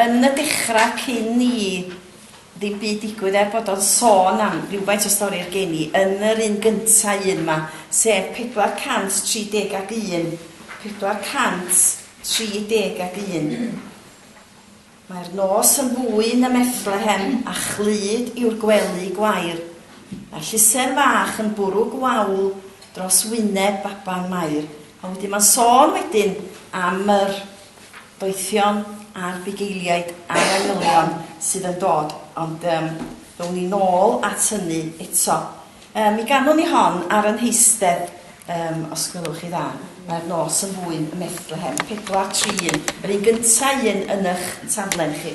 Yn y dechrau, cyn i ddim byd digwydd, er bod o'n sôn am rywfaint o stori i'r geni, yn yr un gyntaf un 'ma, sef 430 ac un, 430 ac un, Mae'r nos yn fwyn ym Methlehem, a chlyd yw'r gwely gwair, Mae llusern fach yn bwrw gwawl dros wyneb baban Mair. A wedyn mae'n sôn wedyn am yr Doethion a'r bugeiliaid a'r manylion sydd yn dod, ond yym rown ni nôl at hynny eto. Yy mi ganwn ni hon ar y nheistedd, yym os gwelwch chi dda, mae'r nos yn fwyn ym Methlehem, pedwar tri un, yr un gynta' un yn ych taflen chi.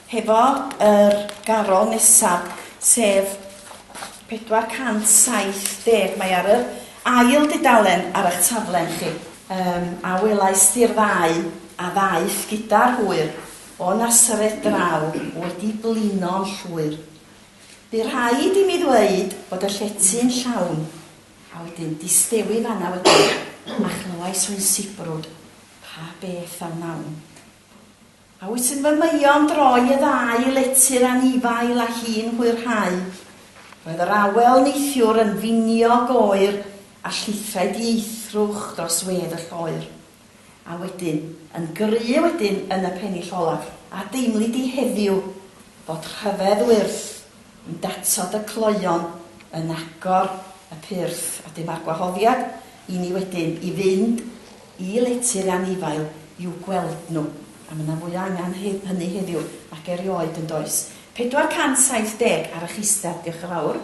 Hefo yr garol nesaf, sef 470, mae ar yr ail dudalen ar eich taflen chi, yym, a welais di'r ddau a ddaeth gyda'r hwyr o Nasaret draw wedi blino'n llwyr. Bu rhaid i mi ddweud bod y llety'n llawn, a wedyn distewi fan'na wedyn, a chlywais fy nsibrwd, Pa beth a wnawn? A wyt yn fy maeon droi y ddau letyr anifail a hi'n hwyrhau. Roedd yr awel neithiwr yn finiog oer a llithrai dieithrwch dros wedd y lloer. A wedyn, yn gry wedyn yn y pennill olaf, a deimli di heddiw fod rhyfedd wyrth i'n datod y cloeon yn agor y pyrth a dyma'r gwahoddiad i ni wedyn i fynd Y lety anifail i'w gweld nhw, a mae 'na fwy o angen hynny heddiw nag erioed, yn does? 470 ar eich isdeb, diolch yn fawr.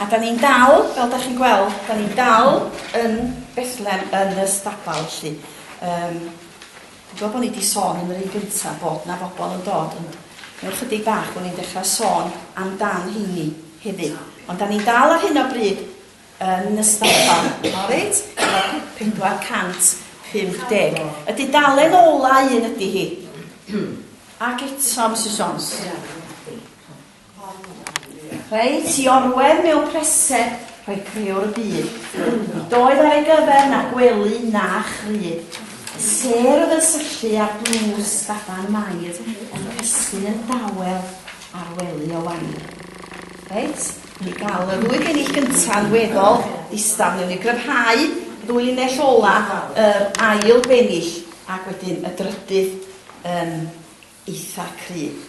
A 'dan ni'n dal, fel 'dach chi'n gweld, 'dan ni'n dal yn Bethlem yn y stabal, felly. Yym, dwi'n gweld bod ni 'di sôn yn yr un gyntaf bod 'na bobl yn dod, ond mewn chydig bach bod ni'n dechrau sôn amdan heini hefyd. Ond 'dan ni'n dal ar hyn o bryd yn y stabal, all right? Efo 450. Y dudalen ola un ydi hi. Ac eto, Mrs Jones. Reit, i orwedd mewn preseb, rhoi creuwr y byd. Nid oedd ar ei gyfer na gwely na chrud. Y sêr oedd yn syllu ar dlws baban Mair yn cysgu yn dawel ar wely o wair. Reit, i gael y ddwy gennill gyntaf weddol distawr, newn ni gryfhau ddwy linell ola yr ail bennill ac wedyn y drydydd yn eitha cryf.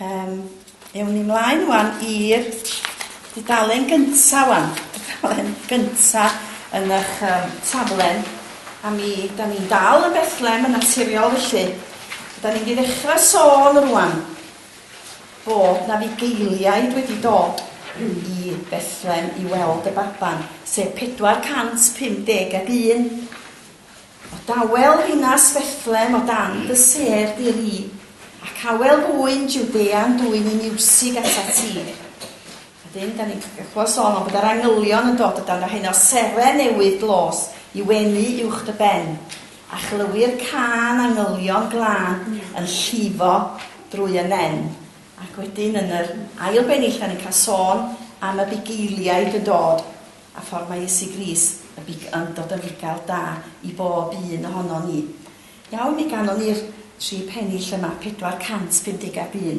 Yym, ewn ni mlaen wan i'r dudalen gynta wan, dudalen gynta yn ych um, saflen, a mi, da ni'n dal yn Bethlem yn naturiol felly. Da ni'n mynd i ddechrau sôn rwan bod na fugeiliaid wedi dod i Bethlem i weld y baban, sef 451. O dawel ddinas Bethlem o dan dy sêr di ry, ac awel ŵyn Jiwdea'n dwyn i miwsig atat ti. Wedyn, da ni'n clywed sôn o'n bod yr angylion yn dod o dan yr heno seren newydd dlos i wenu uwch dy ben, a chlywir cân angylion glân yn llifo drwy y nen. Ac wedyn yn yr ail bennill da ni'n cael sôn am y bugeiliaid yn dod. a ffordd mae Iesu Gris, y Big Un, dod yn fugail da i bob un ohonon ni. Iawn, mi ganon ni'r tri pennill yma, 450 ab un.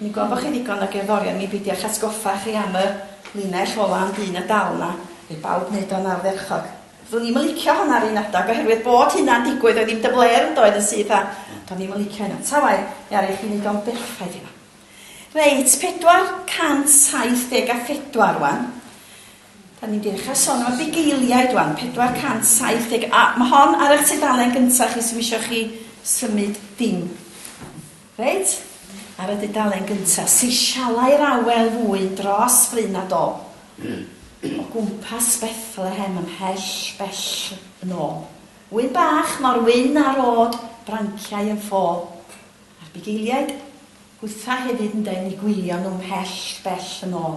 Mi gofo chi ddigon o gerddorion mi beidiach atgoffa chi am y linell ola am dyn y dal na, fydd bawb neud o'n ardderchog. Do'n i'm yn licio honna ar un adag oherwydd bod hynna'n digwydd oedd hi'n dyfler yn doedd yn syth a do'n i'm yn licio hynna. Ta wae, mi aru chi neud o'n berffaith yma. Reit, 474 wan. Da ni'n dechrau son am y bugeiliaid wan, 470, a mae hon ar eich tudalen gyntaf chi sy'n misio chi symud dim. Reit, ar y dudalen gyntaf, seisialai'r awel fwyn dros fryn a do, o gwmpas Bethlehem ymhell bell yn ôl. Ŵyn bach mor wyn a'r o'd branciau yn ffôl, a'r bugeiliaid hwytha hefyd yn denu gwylio nhw ymhell bell yn ôl.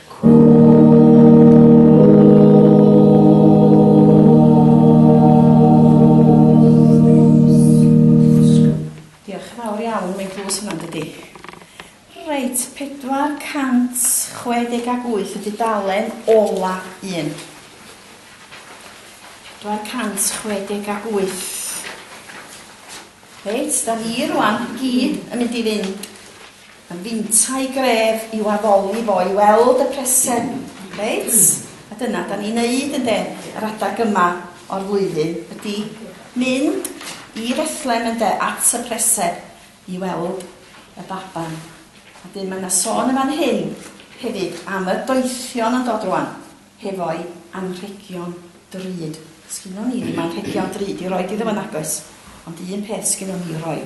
Diolch yn fawr iawn, mae'n dlws hwnna yn dydi? Reit, 468 y dudalen ola un. 468. Reit, da ni rwan gyd yn mynd i fynd Yn yntau gref i'w addoli fo i weld y presen, reit? A dyna 'dan ni'n neud ynde? Yr adag yma o'r flwyddyn ydi mynd i Fethlem ynde? At y presen i weld y baban. A 'dyn ma' 'na sôn yn fan hyn hefyd am y doethion yn dod rŵan hefo'u anrhegion drud. Sgynnon ni ddim anrhegion drud i roid iddo fo nag oes? Ond un peth sgynnon ni i'w roi.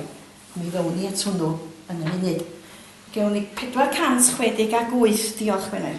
Mi ddown ni at hwnnw yn y munud. Gewn ni 460 ac wyth. Diolch, Gwener.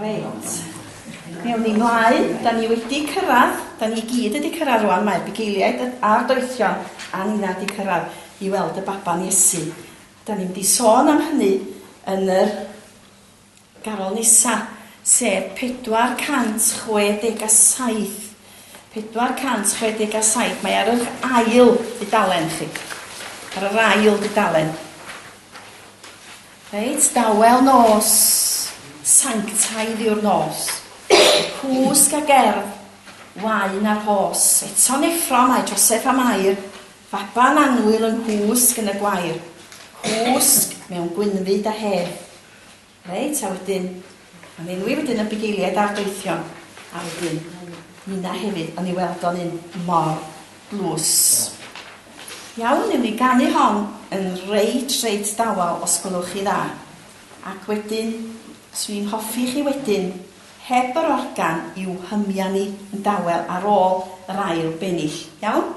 Reit. Mi awn ni mlaen. Da ni wedi cyrraedd, da ni gyd wedi cyrraedd rwan, mae bugeiliaid a'r doethion a nina wedi cyrraedd i weld y baban Iesu. Da ni'n mynd i sôn am hynny yn yr garol nesa, sef 467. 467, mae ar yr ail dudalen chi. Ar yr ail dudalen. Reit, dawel nos sanctaidd yw'r nos, cwsg a gerdd, waun a rhos. Eto'n effro mae Joseff a Mair, faban annwyl yng nghwsg yn y gwair, cwsg mewn gwynfyd a hedd. Reit, a wedyn, Ond enwi wedyn y bugeiliaid a'r deillion, a wedyn ninna hefyd, ond i weld o'n un mor dlws. Iawn, newn ni ganu hon yn reit, reit dawel, os gwelwch chi dda. Ac wedyn, swn i'n hoffi chi wedyn, heb yr organ, i'w hymia ni yn dawel ar ôl yr ail bennill. Iawn?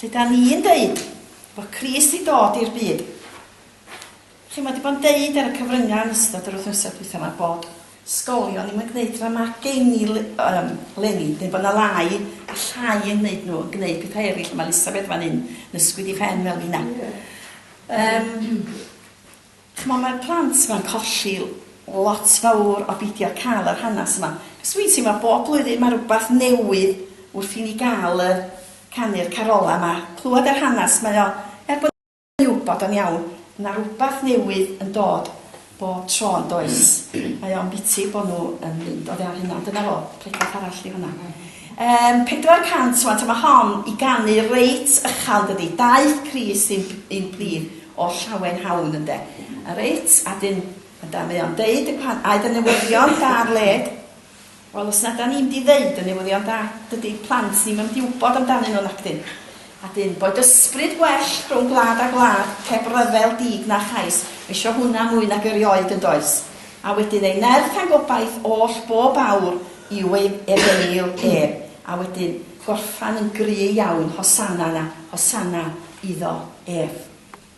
Lle da ni'n deud bod Crist di dod i'r byd. Chi mae di bod yn deud ar y cyfryngau yn ystod yr wythnosau dwytha yma bod sgolion ddim yn gwneud rhan mae gen i um, lenni, neu bod yna lai a llai yn gwneud nhw, yn gwneud pethau eraill. Mae Elisabeth fan hyn, nysgwyd i ffen fel fi na. Um, Ch'mo mae'r plant ma'n colli lot fawr o beidio ca'l yr hanas yma, cos dwi'n teimlo bob blwyddyn ma' rwbath newydd wrth i ni ga'l y canu'r carola ma, clwad yr hanas mae o, er bod ni'n wbod o'n iawn, ma' rwbath newydd yn dod bob tro yn does? Mae o'n biti bo nhw yn mynd oddi ar hynna, dyna fo, pregeth arall di hwnna. Yym 400 ŵan ta ma hon i ganu reit ychal dydi? Daeth Crist i'n i'n plith o'r llawen hawn ynde? A reit a 'dyn yndan mae o'n deud y gwahan- aeth y newyddion da ar led wel os na 'dan ni'n mynd i ddeud y newyddion da dydi plant ni'm yn mynd i wbod amdanyn nhw nacdyn? A dyn, boed ysbryd well rhwng gwlad a gwlad, heb ryfel, dug na chais, isio hwnna mwy nag erioed, yn does? A wedyn ei nerth a'n gobaith oll bob awr yw ei efengyl e, a wedyn gorffan yn gry iawn, Hosanna 'na, Hosanna iddo ef.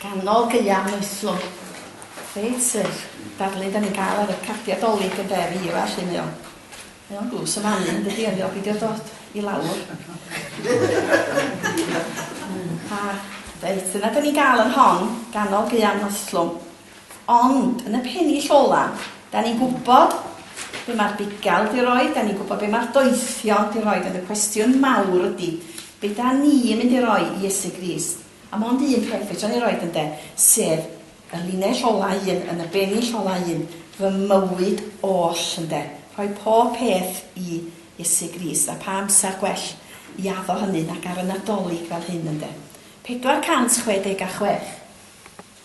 Ganol gaeaf moestlon. Reit sych. Darlun dan ni'n cael ar y cardiau Dolig yn de fi yw e, mae o'n mae o'n dlws y manu yn dydi o'n ddiolch i dio dod i lawr. A reit dyna dan ni'n cael yn hon, ganol gaeaf moestlon. Ond yn y pennill ola, dan ni'n gwybod be mae'r bugail di roi, dan ni'n gwybod be mae'r doethion di roi, ond y cwestiwn mawr ydy, be dan ni'n mynd i roi i Iesu Grist? A mond un rhaid fedra ni roid ynde? Sef y linell ola un yn y benill ola un, fy mywyd oll ynde? Rhoi pob peth i Iesu Grist, a pha amser gwell i addo hynny nag ar y Nadolig fel hyn ynde? 466.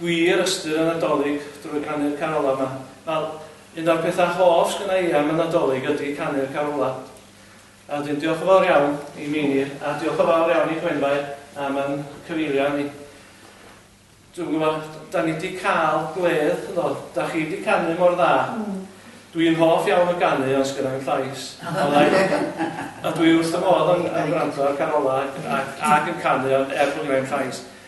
gwir ystyr y Nadolig drwy ganu'r carolau 'ma. Wel, un o'r pethau hoff sgynna i am y Nadolig ydi canu'r carolau. A wedyn diolch yn fawr iawn i Meinir a diolch yn fawr iawn i Gwenfair am yn cyfeirio ni. Dwi'n gwybod, da ni di cael gwledd, yndo, da chi di canu mor dda. Dwi'n hoff iawn o ganu ond sgynna i'm llais. A dwi wrth fy modd yn gwrando ar carolau ac yn canu ond er bod gynna i'm llais.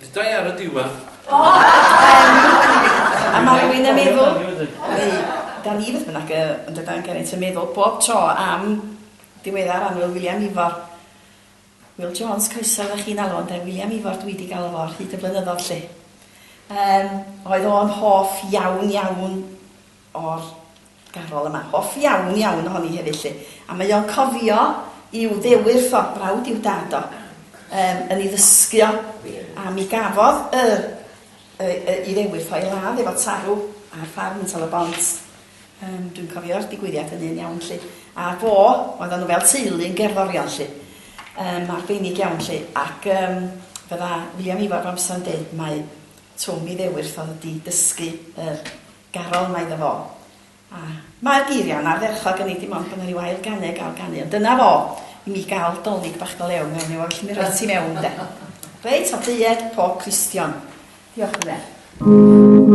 Ddeudai ar y diwedd. O! Yym, a ma' rywun yn meddwl, neu 'da ni beth bynnag yy yn Drydain Geraint yn meddwl bob tro am ddiweddar annwyl Wiliam Ifor. Wil Jones, croeso oddach chi'n alw ynde? Wiliam Ifor dwi 'di galw fo ar hyd y blynyddodd 'lly. Yym, oedd o'n hoff iawn iawn o'r garol yma. Hoff iawn, iawn ohoni hefyd 'lly. A mae o'n cofio i'w ddewyrth o, brawd i'w dad o, yym, yn ei ddysgu o. A mi gafodd y, y, y, i ddewyrth o ei ladd efo tarw ar ffarm yn Tal-y-bont. Yym, dwi'n cofio'r digwyddiad hynny yn iawn 'lly. A fo, oeddan nhw fel teulu yn gerddorion 'lly. Yym, arbennig iawn 'lly. Ac yym, fydda William Ifor bob amser yn deud mai Twm ei ddewyrth oedd 'di dysgu yr Garol, mae iddo fo. A mae'r geiriau yn ardderchog, hynny ydi, mond bod 'na ryw ail ganu a gael canu, ond dyna fo, i mi gael 'Dolig bach do lew' mewn i fo, felly mi roi ti mewn, ynde. Reit, a deued pob Cristion. Diolch, Rhydderch.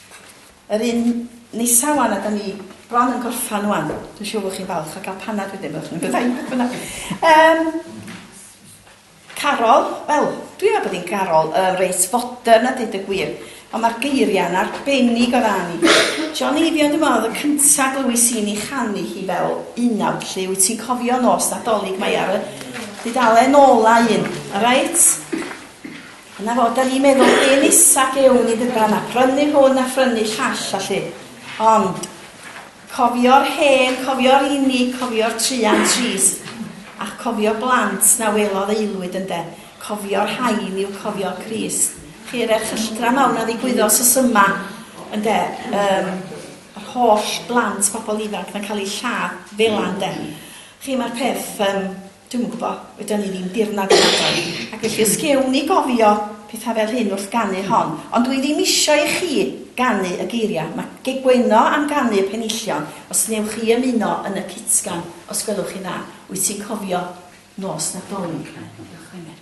Yr un nesa wan a da ni bron yn gorffan wan. Dwi'n siŵr bod chi'n falch o gael panad wedyn, byddwch chi'n byddai, beth bynnag. Um, Carol, wel, dwi'n meddwl bod hi'n Carol uh, reit fodern a dweud y gwir, ond mae'r geiriau'n arbennig o ran i. John Eifion, dwi'n meddwl, oedd y cyntaf glywys i'n ei chanu hi fel unawd lle, wyt ti'n cofio nos nadolig mae ar y dudalen ola un, a reit? Dyna fo, da ni'n meddwl be nesa gewn ni ddydan, a prynu hwn a phrynu llall a llu. Ond, cofio'r hen, cofio'r unig, cofio'r truan trist, a'ch cofio blant na welodd aelwyd ynde, cofio'r rhain yw cofio Crist. Chi yr erchylltra mawr na ddigwyddo sos yma, ynde, um, yr holl blant, pobl ifanc na cael eu lladd fela ynde. Chi mae'r peth um, Dwi'm yn gwbo, wedon ni ddim dirnad yn agor, ac felly os gewn ni gofio petha fel hyn wrth ganu hon, ond dwi ddim isio i chi ganu y geiria, ma gegweno am ganu y penillion, os newch chi ymuno yn y cytgan, os gwelwch chi'n dda, wyt ti'n cofio nos Nadolig? Diolch Gwener.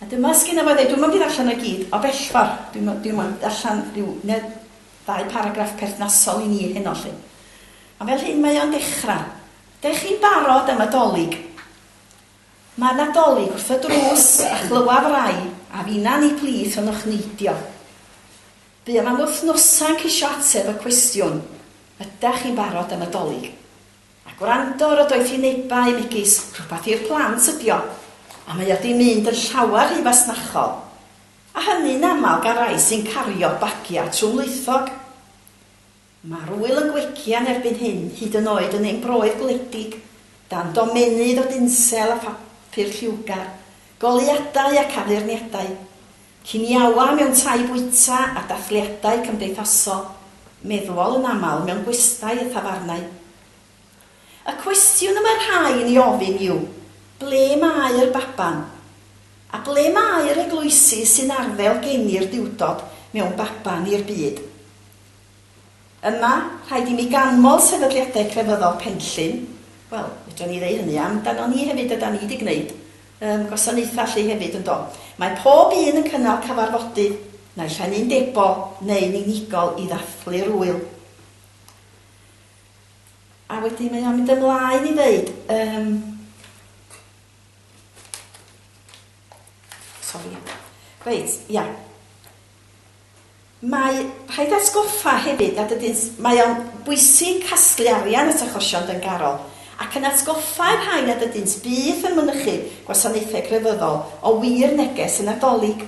A dyma sgynna fo i ddeud, dwi'm yn mynd i ddarllen o i gyd o bellfor, dwi'm yn, dwi'm yn darllen ryw ne ddau paragraff perthnasol i ni heno 'lly. Ond fel hyn mae o'n dechra. Dych chi'n barod am y Dolig? Mae 'na Dolig wrth y drws a chlywa rai a finna ni plith yn o'ch neidio. Buom am wythnosau'n ceisio ateb y cwestiwn, ydach chi'n barod am y Dolig? A gwrando ar y doethinebau megis 'rhywbeth i'r plant ydi o, a mae o 'di mynd yn llawer rhy fasnachol', a hynny'n aml gan rai sy'n cario bagiau trwmlwythog. Mae'r ŵyl yn gwegian erbyn hyn hyd yn oed yn ein broydd gwledig, dan domennydd o dinsel a phapur lliwgar, goleuadau ac addurniadau. Cyn iawau mewn tai bwyta a dathliadau cymdeithasol, meddwol yn aml mewn gwestai a thafarnau. Y cwestiwn y mae rhai yn ei ofyn yw, ble mae'r baban? A ble mae'r eglwysi sy'n arddel geni'r Duwdod mewn baban i'r byd? Yma, rhaid i mi ganmol sefydliadau crefyddol Penllyn, wel, fedrwn ni ddeu hynny am dano ni hefyd, ydan ni 'di gneud yym gwasanaethau 'lly hefyd, yn do? Mae pob un yn cynnal cyfarfodydd, naill ai'n undebol neu'n unigol i ddathlu'r ŵyl. A wedyn mae o'n mynd ymlaen i ddeud yym sori, reit, ia. Mae rhaid atgoffa hefyd nad ydynt, mae o'n bwysig casglu arian at achosion dyngarol, ac yn atgoffa i'r rhai nad ydynt byth yn mynychu gwasanaethau crefyddol o wir neges y Nadolig.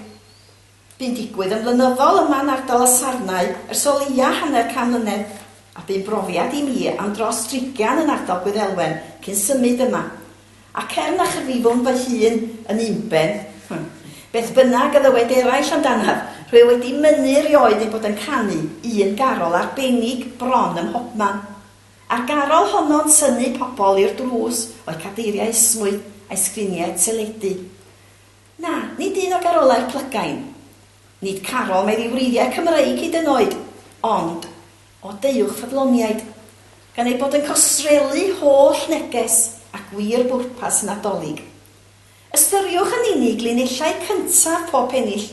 Bu'n digwydd yn flynyddol yma yn ardal y Sarnau ers o leia' hanner can mlynedd, a bu'n brofiad i mi am dros drigian yn ardal Gwyddelwen cyn symud yma, Ac er na chyfrifwn fy hun yn unben beth bynnag a ddywed eraill amdanaf, rwyf wedi mynnu erioed ei bod yn canu un garol arbennig bron ym mhobman. A'r garol honno'n tynnu pobl i'r drws o'u cadeiriau esmwyth a'u sgriniau teledu. Na, nid un o garolau'r plygain. Nid carol meddwi wreiddiau Cymreig hyd yn oed, ond. O deuwch ffyddloniaid, gan eu bod yn costreelu holl neges a gwir bwrpas y Nadolig. Ystyriwch yn unig linellau cyntaf pob pennill.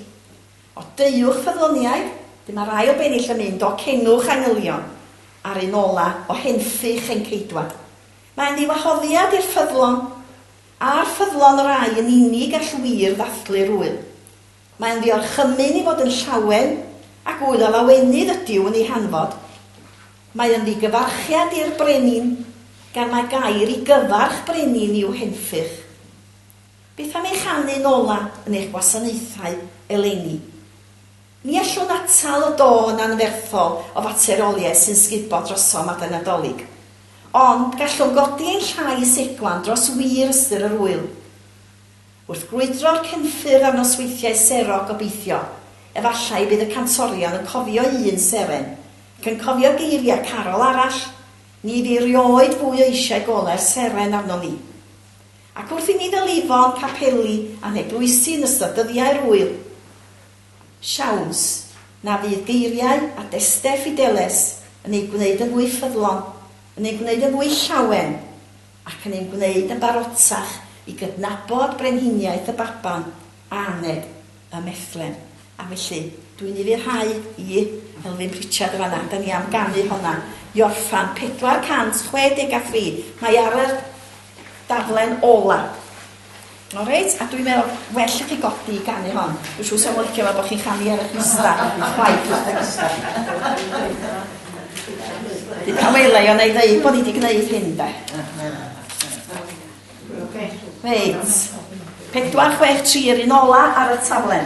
O deuwch ffyddloniaid, dy mae'r ail bennill yn mynd o Cengwch Angylion, a'r un ola' o Henffych hen Ceidwad. Mae'n ddiwahoddiad i'r ffyddlon. Ar ffyddlon rai yn unig all wir ddathlu'r ŵyl. Mae'n ddiorchymyn i fod yn llawen ac ŵyl a lawenydd ydyw yn ei hanfod. Mae yn ddigyfarchiad i'r brenin, gan mae gair i gyfarch brenin i'w henffych. Beth am ei chanu'n ola yn eich gwasanaethau eleni? Ni allwn atal y dôn anferthol o fateroliaeth sy'n sgubo drosom adeg Nadolig, ond gallwn godi ein llais eglan dros wir ystyr yr ŵyl. Wrth grwydro'r cefnffyrdd ar nosweithiau sero gobeithio, efallai bydd y cantorion yn cofio un seren, ac yn cofio geiriau carol arall, Ni fu 'rioed fwy o eisiau gole'r seren arnom ni. Ac wrth i ni fel Ifon, capeli a neglwysi yn ystod dyddiau'r ŵyl, siawns na fydd geiriau a destell Fideles yn eu gwneud yn fwy ffyddlon, yn ein gwneud yn fwy llawen, ac yn ein gwneud yn barotach i gydnabod brenhiniaeth y baban aned ym Methlehem. A felly, dw i'n ufuddhau i Elfyn Pritchard yn fan'na, da ni am ganu honna i orffan. 463, mae ar yr daflen ola. O reit, a dwi'n meddwl, well i chi godi i ganu hon. Dwi'n siŵr sef licio fe bod chi'n chanu ar y pista. Chwaith. Dwi'n cael welai o'n ei ddeud bod ni wedi gwneud hyn, de. Reit. 4663 yr un ola ar y taflen.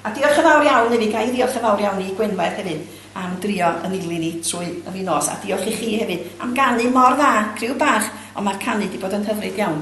A diolch yn fawr iawn i fi, gael diolch yn fawr iawn i Gwenfaeth hefyd am drio yn ili ni trwy y fi nos. A diolch i chi hefyd am ganu mor dda, criw bach, ond mae'r canu wedi bod yn hyfryd iawn.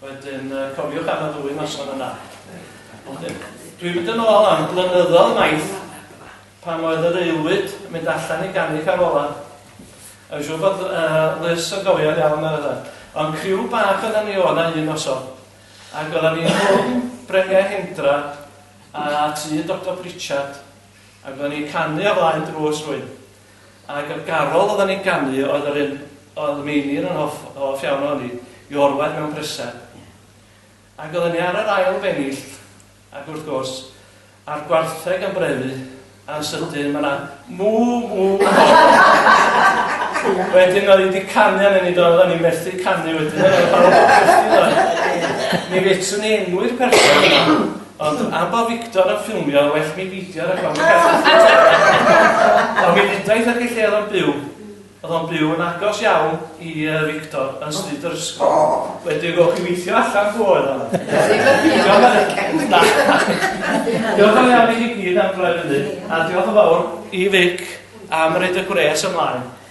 Wedyn, cofiwch am y ddwy noson yna. Dwi'n mynd yn ôl am blynyddoedd maith pan oedd yr aelwyd yn mynd allan i ganu carola. A siw bod uh, Liz yn gofio'n iawn ar yna. Ond criw bach oedd ni o'na un noson. Ac oedden ni hwn Brengau Hendra a tu Dr Pritchard. Ac oedden ni canu o flaen drws rwy'n. Ac y garol oeddan ni'n ganu oedd yr un oedd Meinir yn hoff hoff iawn ohoni, i orwedd mewn prysau. Ac oeddan ni ar yr ail benillt, ac wrth gwrs, a'r gwartheg yn brefu, a'n sydyn ma' 'na mŵ mŵ mawr. Wedyn oedd hi 'di canu arnon ni do, oeddan ni methu canu wedyn, oeddan ni fel 'na. Mi fedrwn i enwi'r person yma. Ond a ba Victor a ffilmio a well mi beidio rhag ofn Ond mi ddeudais wrth y lle oedd o'n byw, oedd o'n byw yn agos iawn i yy Victor yn stryd yr ysgol. Wedyn gewch chi weithio allan pw oedd o. Diolch yn fawr i chi gyd am droi fyny a diolch yn fawr i Vic am roid y gwres ymlaen.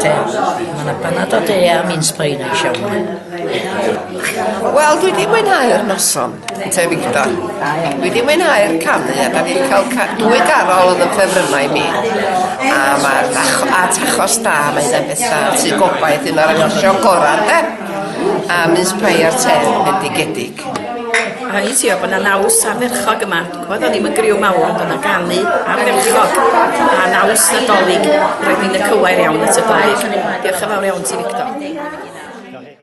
Te. Mae yna banad o de a mince pie neis iawn. Wel, dwi wedi mwynhau'r noson, te Victor. Dwi wedi mwynhau'r canu, a da ni wedi cael ca dwy garol oedd yn ffefrynnau mi. A mae'r tach a tachos da, mae hynna'n beth da. Tŷ gobaith, un o'r achosion gorau, de? A mince pie a'r te, bendigedig. O'n i'n siŵr bod 'na naws ardderchog yma. Ch'mod o'n i'm yn griw mawr ond o' 'na ganu ardderchog a naws Nadolig roedd hi'n y cywair iawn at y Dolig. Diolch yn fawr iawn ti Victor.